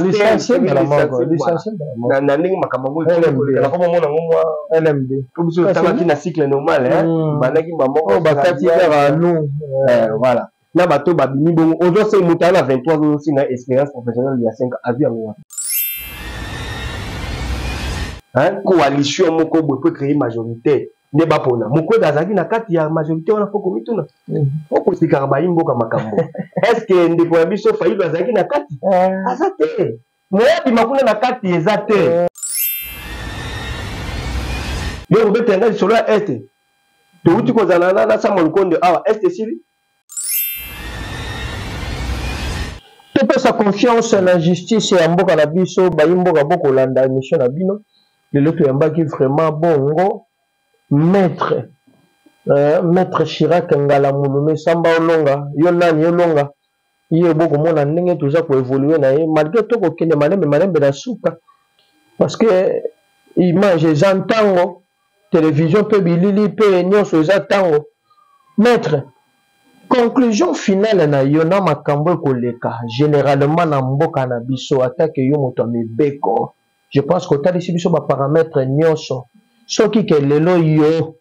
licencie mbala moko licencie mbala moko na na ndenge makambo yango ekoli LMD. koleka nakoma mona ngo mwa lmd po biso Kasi- tangaki na cycle normal hein Mm. bandaki mbala moko oyo bakati kaka anu Eh, voilà na bato oyo babimi bongo ozo se moto aza na 23 ozo se na expérience professionnelle ya 5 azwi yango wapi Hein, coalition moko boye po créer majorité nde bapona mokwega azalaki na kati ya majorité wana mpo komituna mm. mpo kosikaka bayi mboka makambo estce ndeko ya biso fayilo azalaki na kati eh. aza te moya bima kuna na kati eza te eh. yo kobetela ngai lisolo ya este towuti kozala na sama lukonde awa este esili topesa confiance na justice ya mboka na biso bayi mboka bokolanda émission na bino lelo toyambaki vraiment bongo maître euh, maître chirac ngala mulume samba olonga yo nani olonga ye bo komona ndenge toza ko évoluer na ye malgré to kokende malembe malembe na suka parce que image eza ntango télévision mpe bilili mpe nyonso eza ntango maître conclusion finale na yo na makambo ekoleka généralement na mboka na biso atake yo moto ya mibeko je pense kotalisi biso baparametre nyonso soki ke lelo yo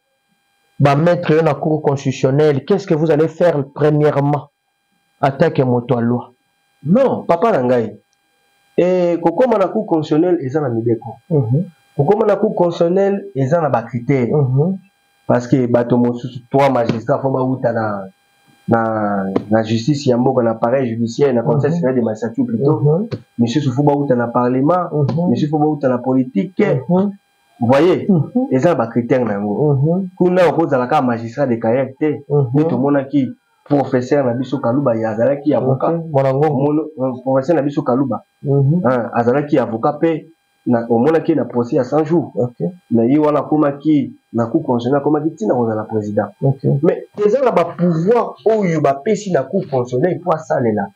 bamaitre yo na cour constitutionnelle qu'est ce que vous allez faire premièrement attaque ya moto ya loi non papa na ngai e, kokoma na cour constitutionnel eza na mibeko mm -hmm. kokoma na cour constitutionnel eza na bacritère mm -hmm. parce que bato mosusu trois magistrat fo bauta na na, na justice ya mboka na pareil judiciaire na conseil mhm. supérieur de magistrature plutôt mhm. misusu fo bauta na parlement mhm. misusu fo bauta na politique voyez mm -hmm. eza ba critère na yango mm -hmm. kuna okozala kaka magistrat de carrière te mm -hmm. nde tomonaki professeur na biso kaluba ye azalaki avocat euh, professeur na biso kaluba mm -hmm. hein, azalaki avocat mpe omonaki na procès ya 100 jours okay. na ye wana akomaki na cour constitutionnel akomaki ntina kozala président okay. mais eza na bapouvoir oyo bapesi na cour constitutionnel mpo asalela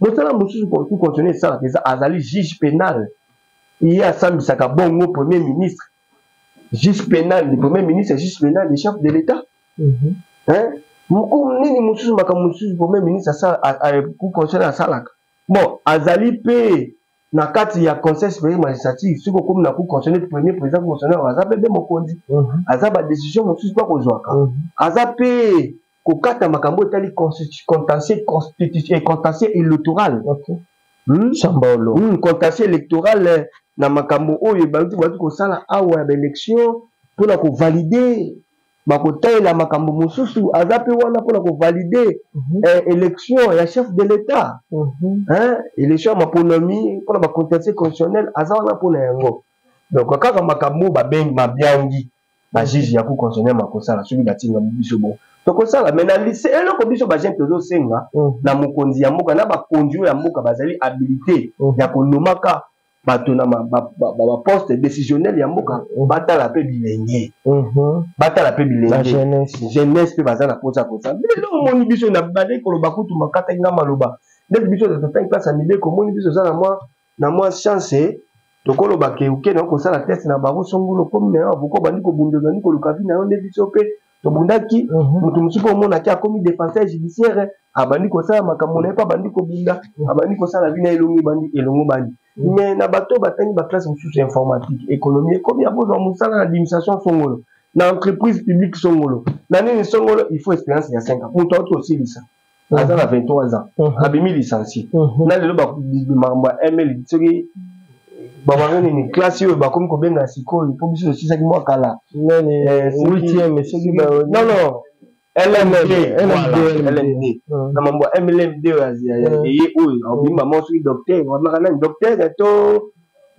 mosala mosusu cour constitutionnel esalaka eza azali juge penal ye asambisaka bongo premier ministre juge penal le premier ministre juge penal le chef de l'état mhm. hein mokumu nini mosusu makambo mosusu premier ministre cour constitutionnel asalaka bon azali mpe na kati ya conseil supérieur magistrature soki okomi na cour constitutionnel premier président cour constitutionnel aza mpe mpe mokonzi mhm. aza badécision mosusu mpe akozwaka mhm. aza mpe kokata makambo oyo etali contentieux constitution et contentieux électoral okay. hmm? sambaolo hmm, contentieux électoral eh, na makambo oyo ebandi bandi kosala awa ya baélection mpo na kovalide bakotalela makambo mosusu aza mpe wana mpo na kovalide mm -hmm. eh, élection ya chef de l'état mm -hmm. eh, élection ya maponomi mpo na bacontentieux constitutionnel aza wana mpo na yango donc kaka makambo babengi mabiangi ba juge ya ku constitutionnel makosala soki batinga biso bo tokosala mais na lise eloko biso bajeune tozosenga mm. na mokonzi ya mboka na bakonzi oyo ya mboka bazali habilite mm. ya konomaka bato na baposte décisionnel ya mboka mm. batala mpe bilenge mm-hmm. batala mpe bilenge jeunesse mpe baza na mposa ya kosala lelo omoni biso na bade koloba kutu makataki nga maloba ndeti biso tototaki place ya mibeko omoni biso oza na mwa na mwa chance tokoloba ke oke na kosala test na baro songolo komi na yo avoka obandi kobunda ozali koluka vi na yo nde biso mpe tobundaki mhm. moto mosusu mpe omonaki akomi defenseur judiciaire abandi kosala makambo na ye mpe abandi kobunda mhm. abandi kosala vi na elongo ebandi elongo bandi mhm. mais na bato batangi baklasse mosusu ya informatique économie ekomi ya kozwa mosala na administration songolo na entreprise publique songolo na nini songolo il faut expérience ya 5 ans moto auti kosilisa Mhm. aza na 23 ans mhm. abimi licencie mhm. na lelo makambo ya ml soki babanga nini classe oyo bakomi kobenga sikoyo mpo biso tosisaki mwa kala eh, na mambo ya mlmd oyo eye oyo abimi mama soki docteur abimaka nani docteur to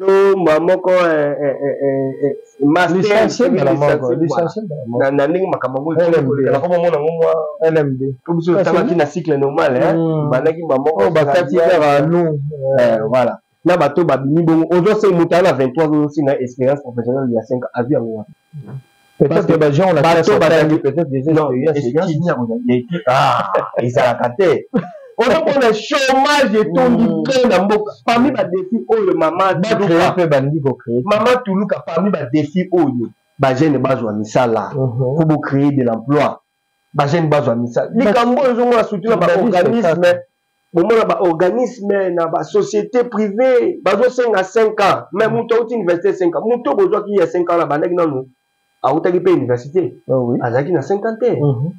to mbala moko eh, eh, eh, na ndenge makambo yango ekolekakoma mona ngo mwa lmd po biso totalaki na cycle normal hmm. bandaki mbala moko oh, bakati kaka nu voilà na bato babimi bongo ozo se moto ana 23 ozosinga expérience professionnelle ya 5 azwi yango wapi Peut-être que ba gens la classe sont tangi peut-être des expériences et bien signer ko ya équipe ah ezalaka te. Ozo pona chômage etondi hmm. plein na mboka parmi ba défis oyo mama ba créer pe bandi ko créer. Mama Tuluka parmi ba défis oyo ba jeunes bazwa misala. Faut mhm. bo créer de l'emploi. bajeune bazwa misala likambo oyo ezongona surtout na baorganisme bomona baorganisme na basociété privé bazosenga 5 ans mais moto auti université 5 ans moto bozwaki ya 5 ans na bandaki nanu autaki mpe université ah azalaki na 5 ans te mhm.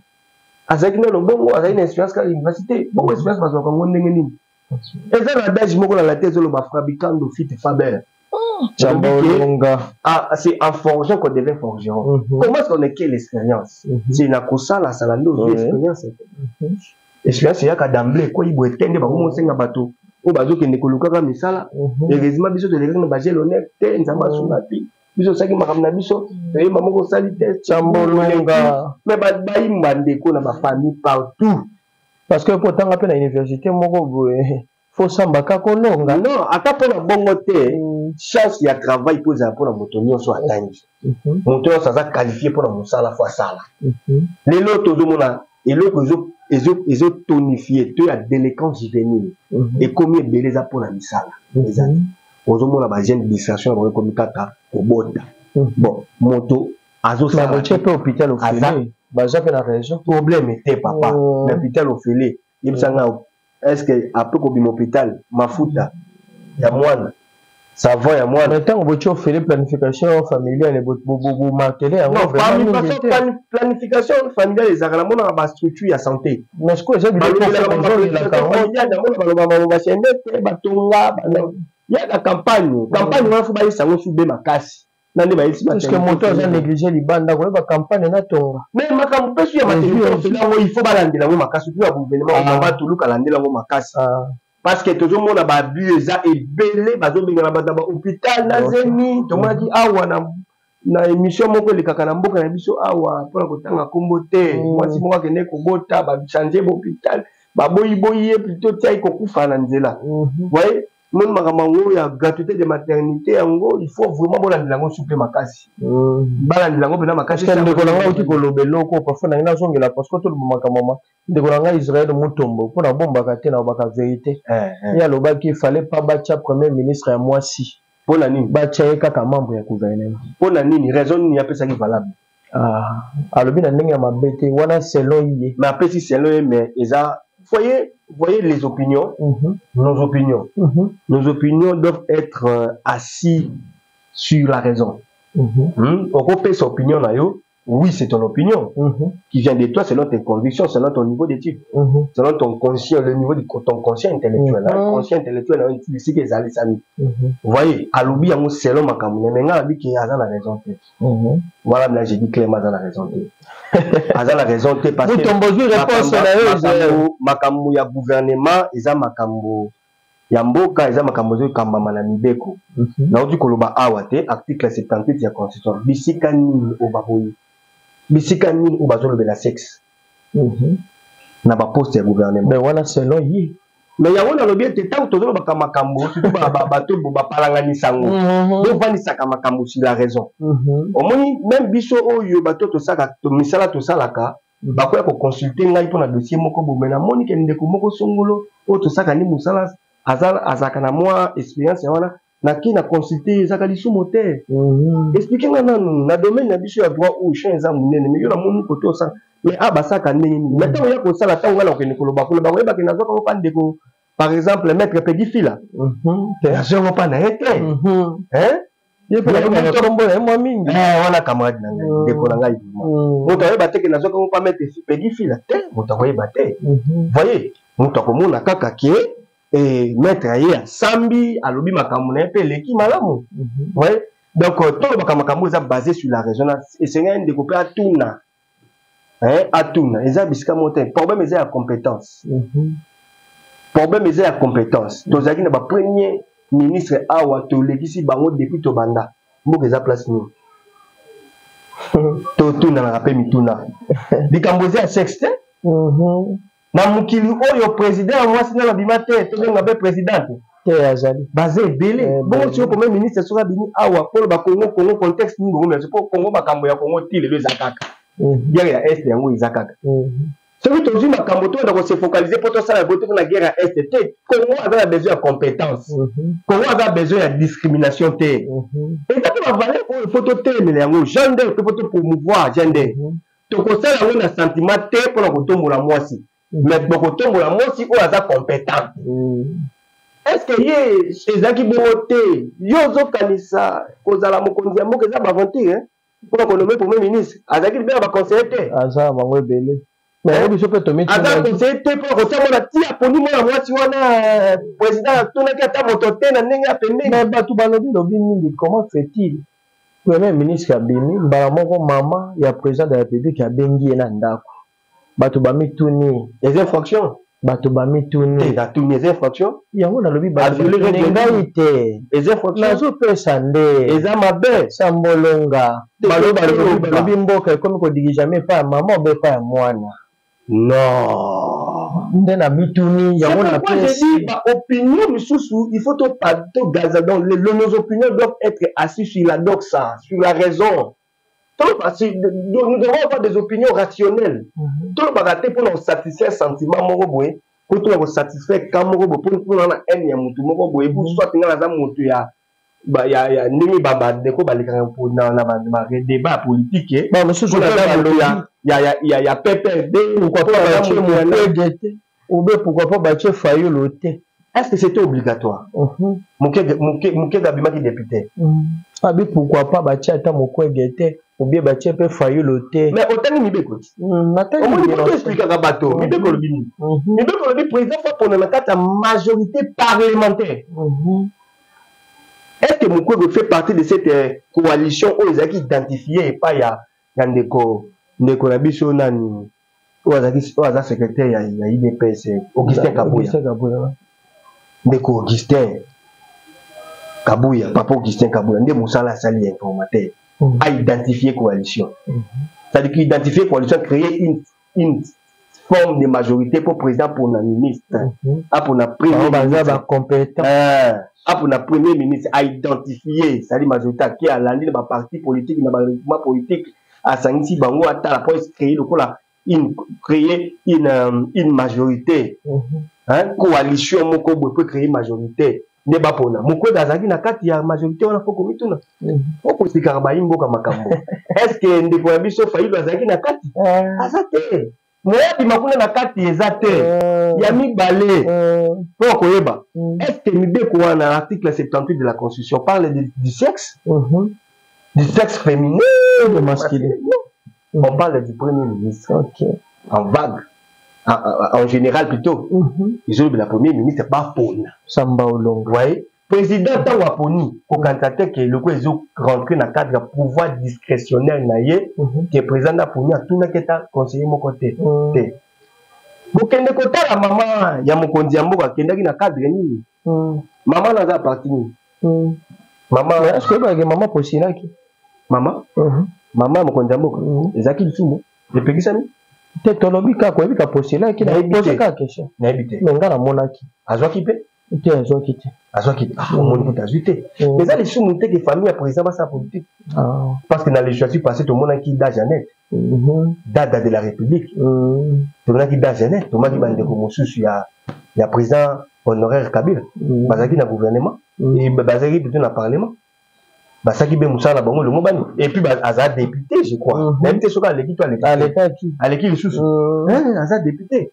azalaki nano bongo azalaki na expérience kaka université bongo expérience bazwaka yango ndenge nini eza na adage moko na latin ezoloba frabicando fit faber c'est en forgeant qu'on devient forgeron mm -hmm. comment est-ce qu'on acquiert l'expérience mm -hmm. c'est na kosalasala nde ozwi expérience te expérience eyaka d'emblai ekwei boye te nde bakomi osenga bato oyo bazokende kolukaka misala heureusement biso tolekaki na bagel honneur te nzambe asunga te biso osalaki makambo na biso toyeba moko osali te cambolonga me baimba ndeko na bafamille partout parce que kotanga mpe na université moko boye fosambaka kolonga non ata mpo na bongo te mm. chance ya travail mpo ezala mpo na moto nyonso atangi mhm. moto nyonso aza qualifie mpo na mosala fo asala mhm. lelo tozomona eloko ezotonifie to ya déléquence juvénile mhm. ekomi ebele eza mpo na misala ezali ozomona bagene distraction ya bango ekomi kaka kobota bon moto azosaotie mpe hôpital ofele baza mpe na raison problème te papa oh. na hôpital ofele yebisa nga est ce que ape kobima hôpital mafuta ya mwana savon ya mwana ntango botye ofele planification familiale bomartele yangoplanification familiale ezalaka na monaka bastructure ya santé baloba maloba sendete batonga ya na campagne campagne wana fo bayisa yango sube makasi nani bayisi maternité moto aza néglige libanda koyeba campagne na tonga mais makambo mpe su ya maternité yango il faut balandela yango makasi tu ya gouvernement ah. baba toluka alandela yango makasi ah. parce que tozomona babus eza ebele bazobengana bato na bahôpital na zemi tomonaki awa na na émission moko elekaka na mboka na biso awa mpona kotanga nkombo te mm. mwasi moko akende kobota bachange bahôpital baboyiboyi ye plutôt tiai kokufa na nzela mm-hmm. voye moni makambo yango ya gratuité de maternité yango il faut vraiment bolandela yango supe makasi hmm. balandela yango mpena makasi ndeko na ngai auti koloba eloko parfois na ngai nazongela parce que toloba makambo ma ndeko na ngai israel mutombo mpo nabombaka te nalobaka verité eh, eh. ye alobaki fallait pas batya premier ministre ya mwasi mpo na nini batya ye kaka membre ya gouvernement mpo na nini raison nini apesaki valable Ah, alobi na ndenge ya mabe te wana selon ye mais apesi selon ye mais eza voyez voyez les opinions mm -hmm. nos opinions mm -hmm. nos opinions doivent être euh, assis sur la raison mm -hmm. hmm? okopesa opinion na yo oui c'est ton opinion mm -hmm. qui vient de toi selon tes convictions selon ton niveau d'étude mm -hmm. selon ton conscient le niveau de ton conscient intellectuel mm -hmm. conscient intellectuel nayo esika ezalisami mm -hmm. voyez alobi yango selon makambo na me ngai alobi ke aza na raison te Mhm. wana mna je dis clairement aza na raison te aza na raison te parce que makambo ya gouvernement eza makambo ya mboka eza makambo ezo ekambama na mibeko mhm. nauti koloba awa te article 78 ya constitution bisika nini oyo baboyi bisika nini oyo bazolobela sexe Mhm. na baposte ya gouvernement mais wana selon ye mais yango nalobi ete ntango tozolobaka makambo bato bapalanganisa yango mhm. bovandisaka makambo si la raison mhm. omoni meme biso oyo bato tosaka misala tosalaka bakoya koconsulte ngai mpo na dossier moko bome namoni ke ndeko moko songolo oyo tosaka ni mosala azalaka na mwa experience ya wana na ke na consulter ye ezaka lisumu te mhm. explique nga nanu na domaine na biso ya droit oyo champ eza monene mais yo na moni kote osala mais a ah, basaka ndenge nini mais ntango ya kosala ntango ngai na kokende koloba koloba koyebake nazwaka yango mpa ndeko par exemple maître pedi fila mhm. te nazwa yango mpa na ye te yekombo na ye mwa mingi eh, wana camarade na ngai mhm. ndeko na ngai moto ayeba te ke nazwaka yango mpa maître pedi fila te moto akoyeba te voye moto akomona kaka ke eh, maître ye asambi alobi makambo na ye mpe eleki malamu mhm. oui donc euh, tolobaka makambo eza basé sur la raison esengeli ndeko mpe atuna eh, atuna eza bisika moko te problème eza ya compétence mhm. problème eza ya compétence mhm. tozalaki na bapremier ministre awa tolekisi bango depuis tobanda mboka eza place nini totunanaka mpe mituna likambo eza ya sexe te Na mokili oyo president ya mwasi nanu abima te, tobenga pe presidente. Te azali. Baza ebele. Eh, Bongo tio comme ministre soki abimi awa polo ba Congo Congo contexte nini bongo mais po Congo makambo ya Congo ti lelo eza kaka. Mm. Guerre ya Est yango eza kaka. Mm. soki tozwi makambo to na kose focaliser mpo tosala yango te mpona guerre ya este te congo aza na besoin ya compétence mhm. congo aza na besoin ya discrimination te mhm. eza mpe bavaleur oyo mpo totelemela yango gender mpe mpo topromouvoir gender mhm. tokosala yango na sentiment te mpo na kotombola mwasi mais bokotombola mwasi oyo aza competent mm. eske ye ezalaki bongo te yo ozokanisa kozala mokonzi ya mboka eza baventure mpo na konome premier ministre azalaki libela baconseiller te aza bango ebele aza conseille te mpo akotia mwana ti aponi mwana mwasi wana président atunaki ata moto te na ndenge ya pembeni bato balobi lobi mingi comment fait-il Premier ministre abimi mbala moko, mama ya president de la republique abengi ye na ndako. Bato bamituni eza infraction, bato bamituni te, natuni eza infraction yango nalobi baviolere ngai te, eza infraction nazopesa nde eza mabe sambolonga balobi mboka ekomi kodigijame epai ya mama obe epai ya mwana Non. Nde na mituni yango na pesi. Ba opinion misusu il faut to pas to gaza donc les, nos opinions doivent être assis sur la doxa, sur la raison. Toloba si nous devons avoir des opinions rationnelles. Mhm. Toloba raté pour nous satisfaire sentiment moko boye, pour to ko satisfaire kamoko boye pour pour na haine ya mutu moko boye, pour mhm. soit ngana za mutu ya ba ya ya ndenge ba ba ndeko balekaka mpo na na ba ma débat politique eh. ba mosusu mpo na ndambo ya ya ya ya ya PPRD pourquoi pas ba chez mon te ou bien pourquoi pas ba chez Fayulu te est-ce que c'était obligatoire mhm. Mukega Mukega Mukega bimaki député mhm. abi pourquoi pas ba chez ata Mukwege te ou bien ba chez pe Fayulu te mais otangi mibeko ti mhm, natangi omoni mpo explikaka bato mibeko lobi nini mibeko lobi président fa pona na kati ya majorité parlementaire est ce que mukwege fait partie de cette euh, coalition oyo ezalaki identifie epai ya ya ndeko ndeko na biso nani oyo azalaki oyo aza secrétaire ya, ya idps euh, augustin kabuya ndeko augustin kabuya papa augustin kabuya nde mosala asali ya informateur mm. a identifie coalition mm -hmm. c'est à dire qu'identifie coalition créer une une forme de majorité mpo président apona ministre mhm. apona premier baza bacompétent eh, apona premier ministre aidentifie sali majorité ake alandi na baparti politique na baregroupement politique asangisi bango atala mpo ecree lokola une créer une, euh, une majorité mhm. coalition moko boye mpo ecree majorité nde bapona mokwega azalaki na kati ya majorité wana fo komituna mm. fo kosikaka bayi mboka makambo est ce que ndeko ya biso fayilu azalaki na kati eh. aza te moyabima kuna na kati eza te eh. ya mibale mpo eh. koyeba mm. est ce que mibeko wana article 78 de la constitution parle de, du sexe mm -hmm. du sexe féminin de masculin On parle du premier ministre. Ok. En vague. En, en, en général plutôt. Mm -hmm. Ils ont le premier ministre, pas Pona. Samba Olongo. Ouais. Président ntango aponi kokanisa te ke eloko ezo rentre na cadre ya pouvoir discrétionnel na ye mhm. ke président aponi atunaki ata conseiller moko te mhm. te bokende kotala mama ya mokonzi ya mboka akendaki na cadre nini Hmm. Maman n'a pas parti nini? Hmm. Maman est ce que maman posilaki? Maman? Hmm. Maman mokonzi ya mboka ezalaki lisumu epekisami te tolobi kaka oyebi ka posilaki nayebi kaka question nayebi te me ngai namonaki azwaki mpe te azwaki te azwaki te ah, omoni kuta azwi te eza lisumu te ke famille ya président basala politique ah. parce que na législative passé tomonaki da janete Mhm. dada de la république mhm. tozalaki dajene tomaki bandeko mosusu ya ya président honoraire kabila mhm. bazalaki na gouvernement bazalaki plutôt na parlement basaki be mosala na bango longo bani epuis aza député je crois nayebi te soki aleki to aleki aleki lisusu eh, aza député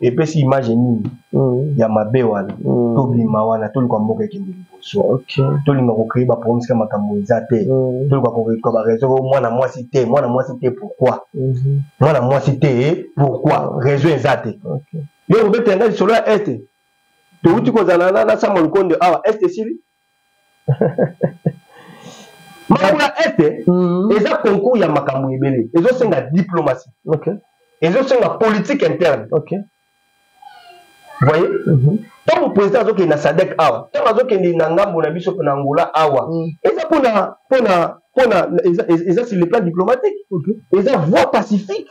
epesi image nini mm. ya mabe wana mm. tobima wana toluka mboka ekende liboso okay. tolinga kocree baproblème sika makambo eza te mm. toluka koka bareseau o mwana mwasi te mwana mwasi te pourquoi mm -hmm. mwana mwasi te pourquoi réseau eza te okay. yo obetela ngai lisolo ya este towuti kozala na sama lukonde awa este esili makambo ya este mm. eza concours ya makambo ebele ezosenga diplomatie okay. ezosenga politique interne okay. voye mhm. ntango mm -hmm. président azokende na sadek awa ntango azokende na ngambo na biso na angola awa mm. eza mpona mpona mpona eza sur le plan diplomatique okay. eza voie pacifique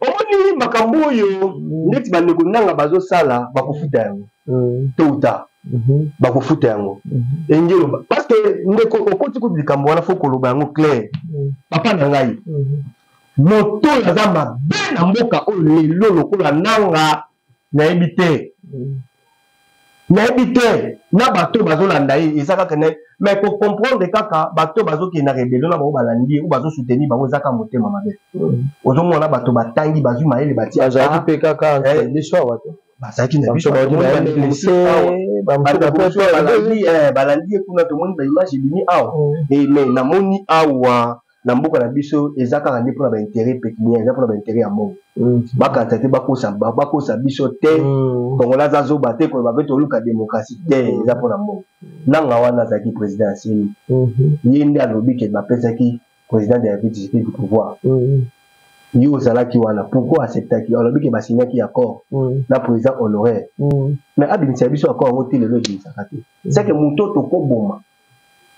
omoni makambo oyo mm. neti bandeko nanga bazosala bakofuta yango mm. to uta mm-hmm. bakofuta yango mm-hmm. engelo parce que ndeko okoti kutu likambo wana fo koloba yango claire mm. papa na ngai mm-hmm. moto oyo aza mabe na mboka oyo lelo lokola nanga nayebi te nayebi te na bato bazolanda ye eza kaka na mais kocomprendre kaka bato bazokende na rebelio na bango balandi ye o bazosoutenir bango eza kaka motema mabe mm. ozomona bato batangi bazwi mayele batiazalaki mpe kaka eh. biso awa te bazalaki na biso balandi ye kuna tomoni baimage ebimi awa mm. eh, mais namoni awa na mboka na biso eza kaka nde mpona bainteret pécuniaire eza mpona bainteret ya mbongo mm. bakanisa te bakosa biso te mm. kongola aza zoba te koloba mpe toluka démocratie te mm. eza mpona mbongo nanga wana azalaki président ya seni mm-hmm. ye nde alobi ke bapesaki président de la république tshisekedi pouvoir mm-hmm. yo ozalaki wana pourquoi acceptaki alobi ke basignaki accord na président honoraire mais abimisa biso accord yango te lelo ebimisaka te seke moto tokoboma mm.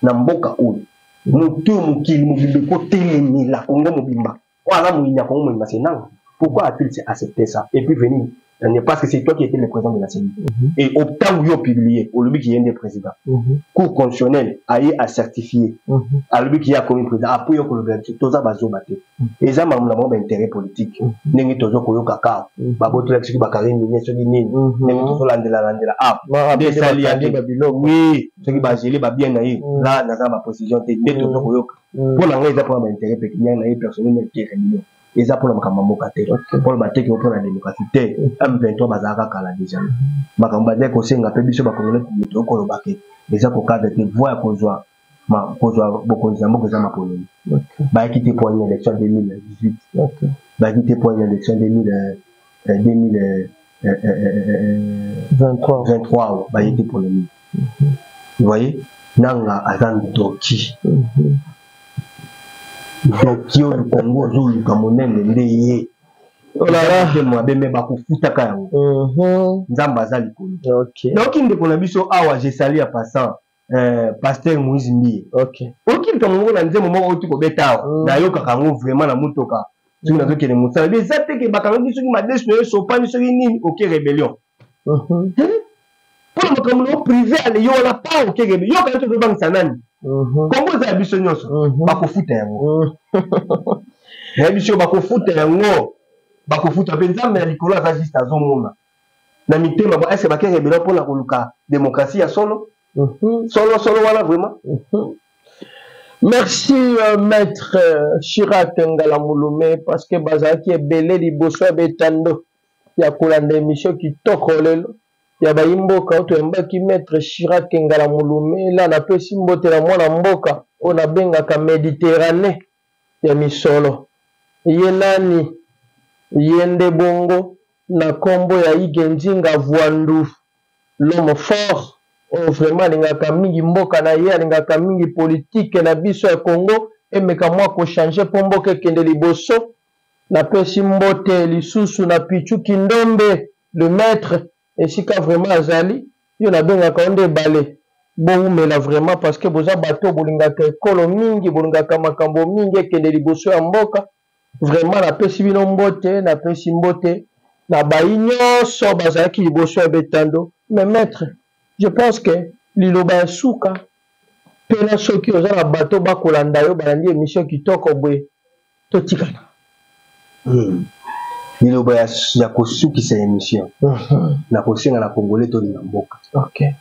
na mboka oyo moto oyo mokili mobimba ekotelemela kongo mobimba oyo aza moyini ya kongo mobimba se nanga pourquoi a-t-il se accepté ça et puis venir ne parce que c'est toi qui était le président de la CENI mm -hmm. et otango yo publié olobi ki ye nde président mm -hmm. cour constitutionnel aye acertifie mm -hmm. alobi ki ye akomi président apres yo kolobela biso toza bazoba te eza mamu na bango ba intérêt politique ndenge tozo koyoka ka babotolaki soki bakari mine soki nini ndenge tozolandela landela a nde esali yaki wi soki bagele babien na ye la naza na baprécision te nde tozo koyoka mpo na ngai eza mpona ba intérêt pécuniaire na ye personnel na ete réunion eza mpona makambo ya mboka te mpona bateki mpona démocratie te m23 bazalaka kala déjà makambo bazali kosenga mpe biso bakongolaki moto okolobake eza kokada te voi ya kozwa ma kozwa bokonzi ya mboka eza mapololi bayaki te poani élection 2018 bayaki te poani élection 2023 baye te pololi voye nanga aza ndoki mhm. ndoki oyo kongo ozoluka monene nde ye mabe me bakofutaka yango mhm. nzambe aza likolo nayoki ndeko na biso awa jesali ya passant Euh, pasteur moise mbiye okay. oyoki likambo moko na nzembo moko outi kobeta awa mm. nayokaka yango vraiment na motoka soki mm. nazokende mosala bi eza te ke bakangaki soki madesu na yo esopani soki nini oke rebellion mm-hmm. mpona makambo na yo prive ale yo wana pa oke rebellion yo kanaki ozobangisa nani mm-hmm. kongo eza ya biso nyonso mm-hmm. bakofuta yango na biso bakofuta yango bakofuta mpe nzambe ya likolo aza juste azomona na mitema ba est-ce ba kenge bino pona koluka démocratie ya solo mhm. solo solo wana vraiment mhm. merci euh, maître euh, Chirac Ngala Mulume parce que bazalaki ebele liboso ya betando ya kolanda émission kitoko lelo ya bayi mboka oyo toyambaki maître Chirac Ngala Mulume la napesi mbote na mwana mboka oyo nabengaka Méditerranée ya misolo. Ye nani? Ye nde bongo na kombo ya Hugues Nzinga Vuandu, l'homme fort oyo vraiment alingaka mingi mboka na ye, alingaka mingi politique na biso ya Congo emeka mua ko changer po mboka ekende liboso. Napesi mbote lisusu na Pitshou Kindombe, le maitre, esika vraiment azali yo nabengaka yo nde ebale bowumela vraiment parce que boza bato bolingaka ekolo mingi bolingaka makambo mingi ekende liboso ya mboka vraiment napesi bino mbote napesi mbote na bayi nyonso bazalaki liboso ya betando mais maître je pense que liloba ya suka mpena soki oza na bato bakolanda yo balandi emission kitoko boye totikana hmm. liloba ya, ya kosukisa émission uh mhm. -huh. na kosenga na congolais tolinga mboka okay.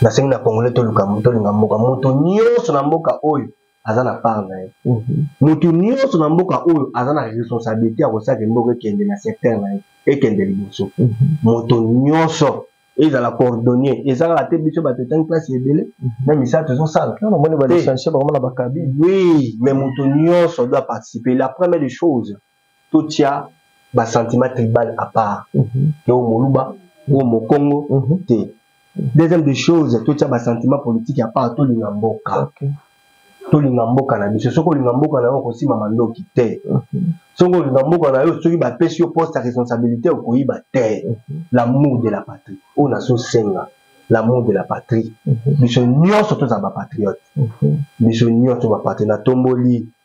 nasengi na congolais tolinga mboka moto nyonso na mboka oyo aza na part na ye mhm. moto nyonso na mboka oyo aza na responsabilité ya kosalaka mboka ekende na secteur na ye ekende liboso mhm. moto nyonso ezala coordonnier eza kaka te biso bato etangi place ebele na misala tozosala omoni balicencie bakoma na bakabi oui mais moto nyonso doit participer la première des choses totia basentiment tribal à part mhm. te o moluba o mokongo mhm. te deuxième des choses totia basentiment politique à part tolinga mboka tolinga mboka na biso soki olinga mboka na yo okosima mandoki te soki olinga mboka na yo soki bapesi yo poste ya responsabilité okoyiba te l'amour de la patrie oyo nazosenga l'amour de la patrie biso nyonso tozala bapatriote biso nyonso bapatriote natomboli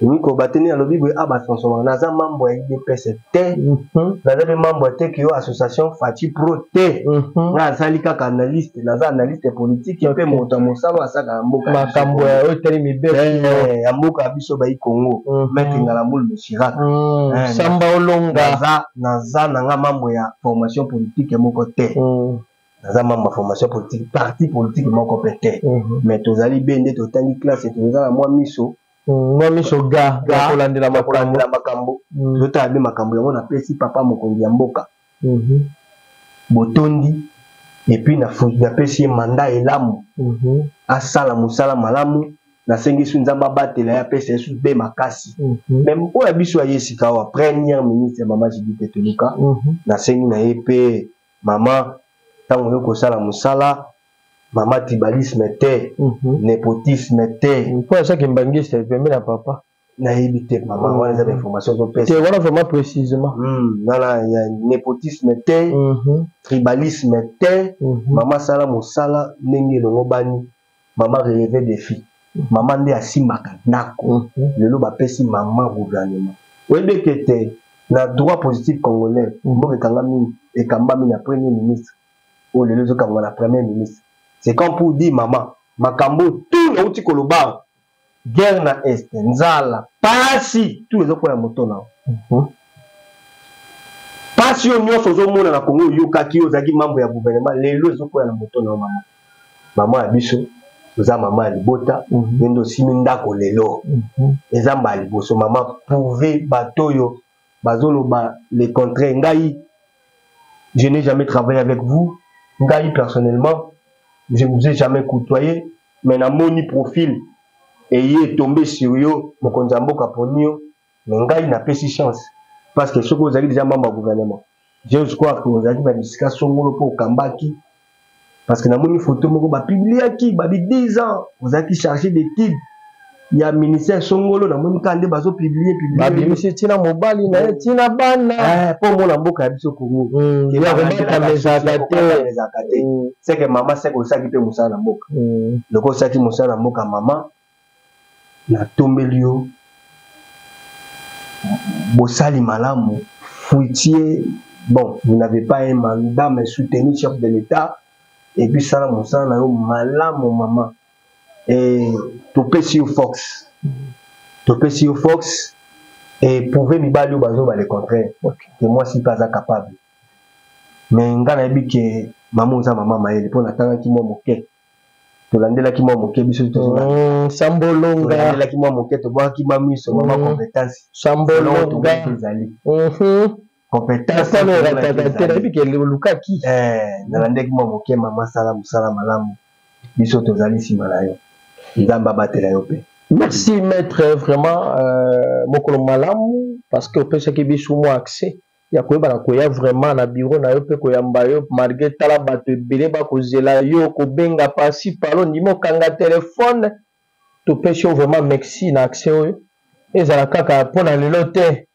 Nico Batini alobi boye aba ah, sonso wana aza mambo ya IDPS te mhm. naza mpe mambo ya teki yo association Fati Pro te mhm. nga azali kaka analyste naza analyste politique mpe moto ya mosala asaka ya mboka makambo ya oyo etali mibeko eh, ya mboka ya biso bayi Congo mhm. maître Ngalamboul Mishiraka eh, samba olonga naza naza na nga mambo ya formation politique moko te naza membre ya formation politique parti politique moko mpe te mhm. mais tozali be nde totangi classe toza na mwa miso mhm, mwa miso ga kolandela makambo mhm. totala be makambo yango napesi papa mokonzi ya mboka botondi epuis napesi ye manda elamu asala mosala malamu nasengi su nzambe abatela ye apesa ye su be makasi me oyo ya biso ya ye sikawa première ministre ya mama jibite toluka nasengi na ye mpe mama ntango oyo kosala mosala mama tribalisme te mm -hmm. nepotisme te mpo asaki mbangiste pembe na papa nayebi te mama mm. wana eza bainformation ozopesa wana vraiment précisément mm, nana ya nepotisme te mm-hmm. tribalisme te mm-hmm. mama asala mosala ndenge elongobani mama releve defi mama nde asimbaka ndako mhm. lelo bapesi mama gouvernement oyebi ete te na droit positif congolais mhm. mboka ekangami ekambami na premier ministre oyo lelo ezokangama na premier ministre c'est quand pour dire mama makambo tu nauti koloba guerre na est nzala pasi tu ezokwela moto na mhm. pasi yo nyonso ozomona na kongo oyokaki yo ozalaki mambo ya gouvernement lelo ezokwela na moto na yo mama mama ya biso oza mama ya libota mhm. yo nde osimi ndako lelo mhm. eza mbala liboso mama prouve bato oyo bazoloba le contraire ngai je n'ai jamais travaillé avec vous ngai personnellement je ne vous ai jamais côtoyé mais na moni profil eye tombe sur yo mokonzi ya mboka poni yo mais ngai na pesi chance parce que soki ozali deja membre ya gouvernement j'ose croire que ozalaki na bisika songolo mpo okambaki parce que na moni photo moko ba publiaki ba bi 10 ans ozalaki chargé d'étude ya ministère songolo na moni kande bazo publier publier babimisi tina mobali na ye tina bana eh po mona mboka ya biso Congo mm, ke ba kobata mezaka te mezaka te mm. c'est que maman c'est ko saki pe musala na mboka mm. loko saki musala na mboka maman na tombeli yo bosali malamu fruitier bon vous n'avez pas un mandat mais soutenu chef de l'état et puis sala musala na yo malamu maman eh, topesi yo fox topesi yo fox eprouve mibali oyo bazoba le contraire ke mwasi mpe aza capable me ngai nayebi ke mama oza mama mayele mpo natangaki mwa moke tolandelaki mwa moke biso mm, sambolongalandelaki mwa moke tobwakaki mwa miso mwa macompetence mm. sambolonga ezali mhm. competence tano erataka te nayebi ke olukaki eh, nalandeki mwa moke mama sala mosala malamu biso tozali nsima na yo nzambe abatela yo mpe merci maître vraiment euh, mokolo malamu parce que opesaki biso mwa accès ya koyebana koya vraiment na biro na yo mpe koyamba yo malgre tala bato ebele bakozela yo kobenga pasi palo ndima okanga telefone topesi yo vraiment merci na accès oyo ezala kaka mpo na lelo te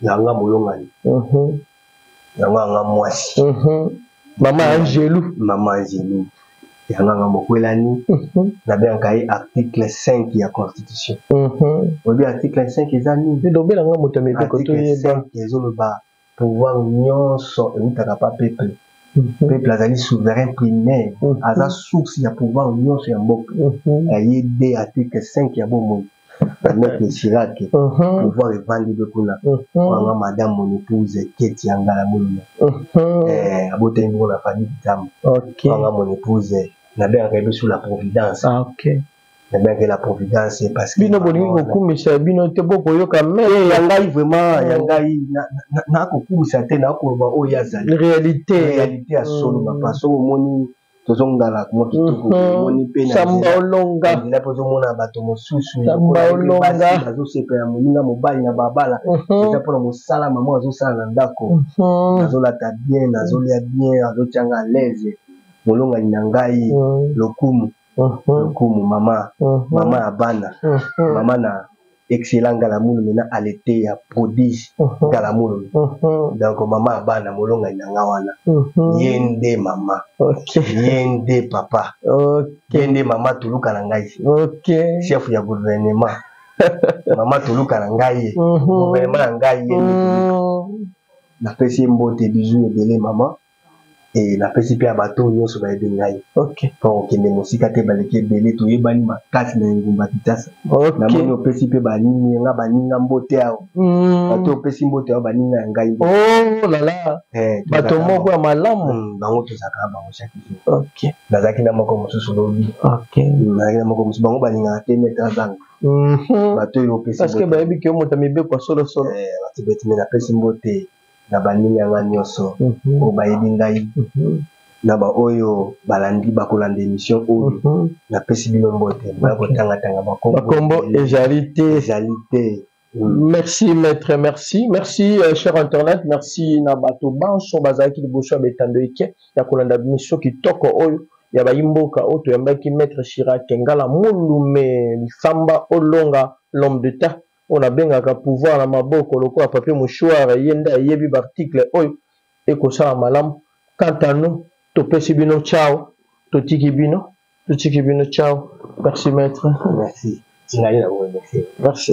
na nga molongani yango anga mwasi mama angelu mama angelu yango anga mokwelani nabengaka ye article 5 ya constitution oyebi article 5 eza nini lobela nga moto ya mibeko toyeba ezoloba pouvoir nyonso eutaka pa peuple Mhm. peuple azali souverain primaire mhm. aza source ya pouvoir nyonso ya mboka mhm. aye de article 5 ya bomoi Maître Chirac, pouvoir evandi be kuna. Wanga madame mon épouse Keti Angala Muluma. Eh, abota ngo na famille Kitambo. OK. Wanga mon épouse na bien rebe sous la providence. Ah, OK. Na bien que la providence parce que bino bolingi ko kumisa bino te boko yoka mais eh, ya ngai vraiment ya ngai na ko kumisa te na ko ba oyo azali. Réalité, réalité ya solo papa. So omoni tozongala mwa kitoko omoni mpe nzela mpe ozomona bato mosusu basi bazosepela moninga mobali na babala eza mpona mosala mama azosala na ndako nazolata bien nazolya bien azotyanga alaise molongani na ngai lokumu lokumu mama mama ya bana mama na excellent ngalamulu mena aleteya prodige mhm. ngalamulu mhm. donc mama ya bana molongani na nga wana mhm. ye nde mama ye nde papa ye nde mama toluka na ngai chef ya gouvernement mama toluka na ngai ye gouvernement na ngai ye napesi ye mbote bizu ebele mama e napesi mpe ya bato oyo nyonso bayebi ngai okay. mpo okende mosika te baleki ebele toyebani makasi na engumba kitasa okay. namoni opesi mpe baninga nga baninga mbote ao mm. bato opesi mbote ao baninga ya ngai oh, lala eh, bato moko ya malamu mm, bango tozalaka na bango chaque jour okay. nazalaki na moko mosusu lobi okay. Mm, nazalaki na moko mosusu bango balingaka te mete azanga mhm. bato oyo opesi parce que bayebi ke yo moto ya mibeko ya solosolo eh, bato beti me napesi mbote na baninga ya ngai nyonso mhm. oyo bayebi ngai mhm. na baoyo balandi bakolanda emission oyo mhm. napesi bino mbote baya kotangatanga bakombo ezali te ezali te merci maître merci merci euh, cher internet merci na bato banso bazalaki liboso ya betando eke ya kolanda biso kitoko oyo ya bayimboka oyo toyambaki maître chirac ngala mulume lifamba olonga l'homme de temps oyo nabengaka pouvoir na maboko lokola papier mouchoir ye nde ayebi baarticle oyo ekosala malamu quant à nous topesi bino chao totiki bino totiki bino chao merci maître merci merci